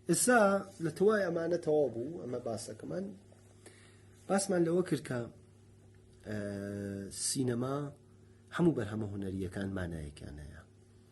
ئسا لە توای ئەمانە تەوا بوو ئەمە باسەکەمان باسمان لەوە کرد کە سینەما هەموو بەرهەمە هوەریەکان مانایەکیان هەیە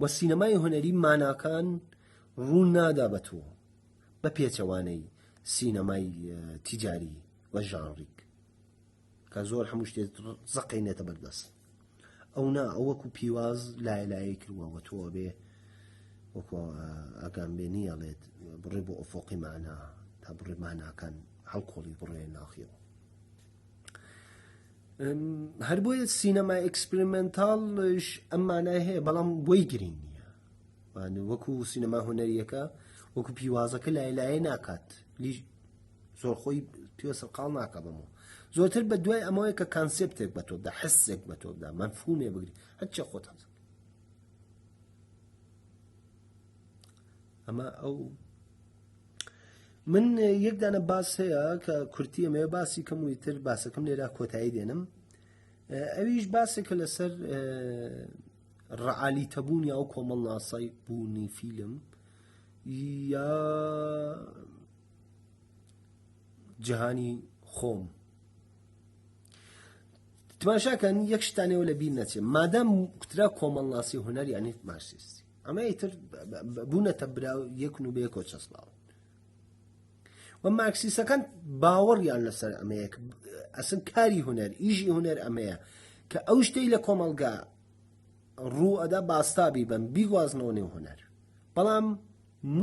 و سینەمای هونەری ماناکان ڕوون نادا بە تۆ بە پێچەوانەی سینەمای تیجاری و ژانڕیک کە زۆر هەموو شتێت زەقینێتە بەردەست ئەو نا ئەوەکو پیواز لای لای کردوەوە تۆ بێ وەکو ئەگەم بێ نیەڵێت بڕێ بۆ ئۆفۆقی مانا تا بڕێ ماناکان هەڵکۆڵی بڕێ ناخیەوە هەر بۆیە سینەمای ئەکسپریمنتاڵش ئەم مانای هەیە بەڵام بۆی گرنگ نییە وەکو سینەما هوەریەکە وەکو پیوازەکە لای لایە ناکات زۆر خۆی پێوە سەرقاڵ ناکە بەمەوە زۆرتر بە دوای ئەمەوەی کە کانسپتێک بە تۆدا حسێک بە تۆدا مەفهومێ بگری هەرچە خۆت هەز ئەمە ئەو من یەک دانە باس هەیە کە کورتی ئەمێ باسی کەمووی تر باسەکەم لێرا کۆتایی دێنم ئەویش باسێکە لەسەر ڕعالی تەبوون یا و کۆمەڵ ناسای بوونی فیلم یا جیهانی خۆم تماشاکەن یەک شتانەوە لە بیر نەچێت مادەم کوترا کۆمەڵناسی هوەر یانی مارسیستی ئەمە ئیتر بوونەتە برا یەکن و بێ کۆ چەسناوە و ماکسیسەکان باوەڕیان لەسەر ئەمەیە ئەسن کاری هوەر ئیژی هوەر ئەمەیە کە ئەو شتەی لە کۆمەلگا ڕوو ئەدا باستابی بم بیگوازنەوە نێو هوەر بەڵام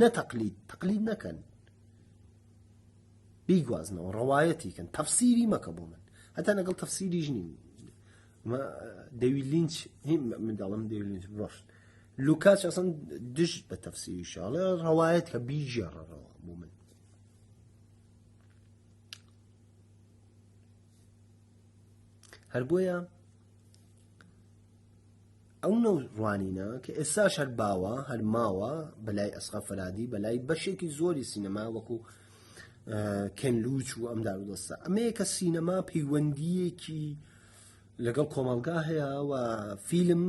نەتەقلید تەقلید نەکەن بیگوازنەوە ڕەوایەتیکەن تەفسیری مەکە بۆ من هەتا لەگەڵ تەفسیری ژنی دەوی لینچ هی منداڵم دەوی لینچ ڕۆشت لوکاچ ئەسن دژ بە تەفسیری شاڵە ڕەوایەت کە بیژێڕەوە بۆ من هەربۆیە ئەو نەو ڕوانینە کە ئێستاش هەر باوە هەر ماوە بەلای ئەسقا فەرادی بەلای بەشێکی زۆری سینەما وەکو کەنلوچ و ئەم دارودەستە ئەمەیە کە سینەما پەیوەندیەکی لەگەڵ کۆمەلگا هەیە و فیلم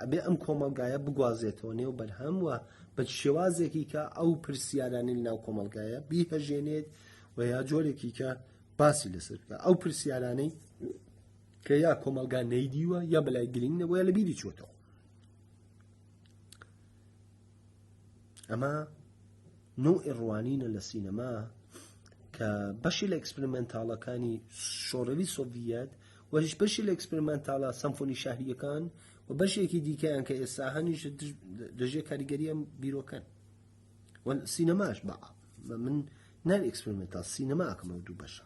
ئەبێ ئەم کۆمەلگایە بگوازێتەوە نێو بەرهەم وە بە شێوازێکی کە ئەو پرسیارانی ناو کۆمەلگایە بیهەژێنێت و یا جۆرێکی کە باسی لەسەر بکە ئەو پرسیارانەی کە یا کۆمەلگا نەیدیوە یا بەلای گرنگ نەبوو یا لە بیری چۆتەوە ئەمە نو ئێڕوانینە لە سینەما کە بەشی لە ئەکسپریمنتالەکانی شۆڕەوی سۆڤەت وەریش بەشی لە ئەکسپریمنتالە سەمفۆنی شاهریەکان و بەشێکی دیکەیان کە ئێستا هەنیش دەژێ کاریگەریان بیرۆکەن سینەماش بە من ناوی ئەکسپریمنتال سینەماکەمە دوو بەشە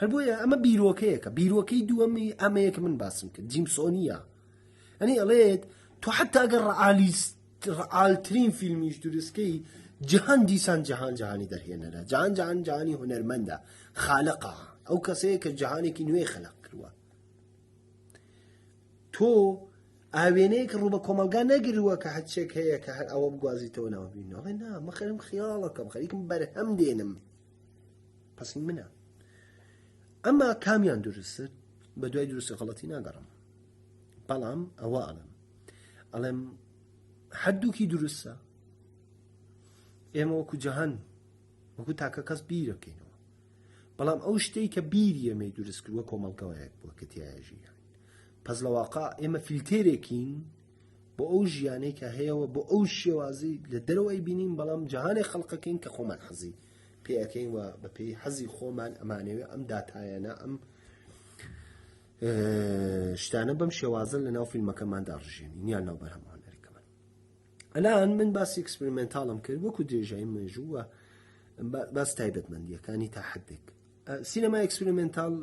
هەر بۆیە ئەمە بیرۆکەیەکە بیرۆکەی دووەمی ئەمەیەک من باسم کرد جیمسۆنیە ئەنی ئەڵێت تۆ حتا ئەگەر ڕعالیست ڕعاالترین فیلمیش دروستکەی جهان دیسان جهان جهانی دەرهێنەرە جان جان جانی هوەرمەندە خالقا ئەو کەسەیە کە جهانێکی نوێ خەلق کردووە تۆ ئاوێنەیەک ڕوو بە کۆمەلگا نەگرووە کە هەچێک هەیە کە هەر ئەوە بگوازیتەوە ناوبینەوە نا مەخەرم خیاڵەکەم خەریکم بەرهەم دێنم پسی منە ئەما کامیان دروست بە دوای دروست غڵەتی ناگەڕم بەڵام ئەوە ئەڵم ئەڵێم هەردووکی دروستە ئێمە وەکو جەهان وەکو تاکە کەس بیرەکەینەوە بەڵام ئەو شتەی کە بیری ئێمەی دروست کردوە کۆمەڵگەوەیەک بووە کە تایژی پەس لە واقع ئێمە فیلتێرێکین بۆ ئەو ژیانەی کە هەیەەوە بۆ ئەو شێوازی لە دەرەوەی بینین بەڵام جیهانێک خەڵقەکەین کە خۆمان حەزی پێەکەین و بە پێی حەزی خۆمان ئەمانەوێ ئەم داتایەنە ئەم شتانە بەم شێوازن لە ناو فیلمەکەماندا ڕژێنی نیان ناو بەرهەمان ئەلان من باسی ئەکسپریمنتاڵم کرد وەکو درێژایی مێژوو و باس تایبەتمەندیەکانی تا حدێک سینەما ئەکسپریمنتال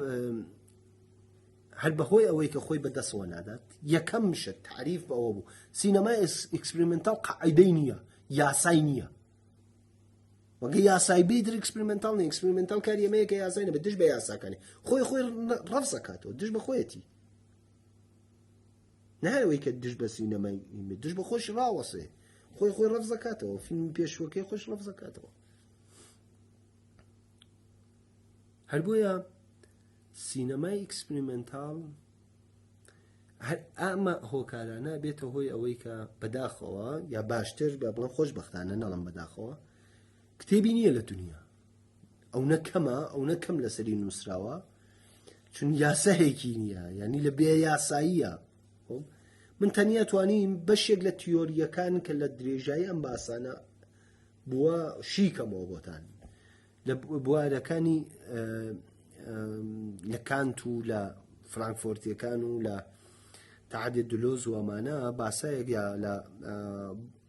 هەر بەهۆی ئەوەی کە خۆی بەدەسەوە نادات یەکەم شت تعریف بەوە بوو سینەمای ئەکسپریمنتال قاعدەی نییە یاسای نییە وەگە یاسای بی در ئەکسپریمنتال نیە ئەکسپریمنتال کاری ئەمەیە کە یاسای نەبێت دژ بە یاساکانی خۆی خۆی ڕفزەکاتەوە دژ بە خۆیەتی نایەوەی کە دژ بە سینەمای دژ بە خۆش ڕاوەسێ خۆی خۆی ڕەفزەکاتەوە فیلم پێشوەکەی خۆش ڕەفزەکاتەوە هەر بۆیە سینەمای ئیکسپریمنتال هەر ئەمە هۆکارانە بێتە هۆی ئەوەی کە بەداخەوە یا باشتر بە بڵە خۆشببختانە نەڵم بەداخەوە کتێبی نییە لە دنیا ئەونە کەمە ئەونە کەم لەسەری نووسراوە چون یاسەهێکی نییە ینی لە بێ یاساییە من تەنیا توانیم بەشێک لە تیۆریەکان کە لە درێژایی ئەم باسانە بووە شیکەمەوە بۆتان لە بوارەکانی لە کانت و لە فرانکفۆرتیەکان و لە تعادێ دلۆز وەمانە باسایەک یا لە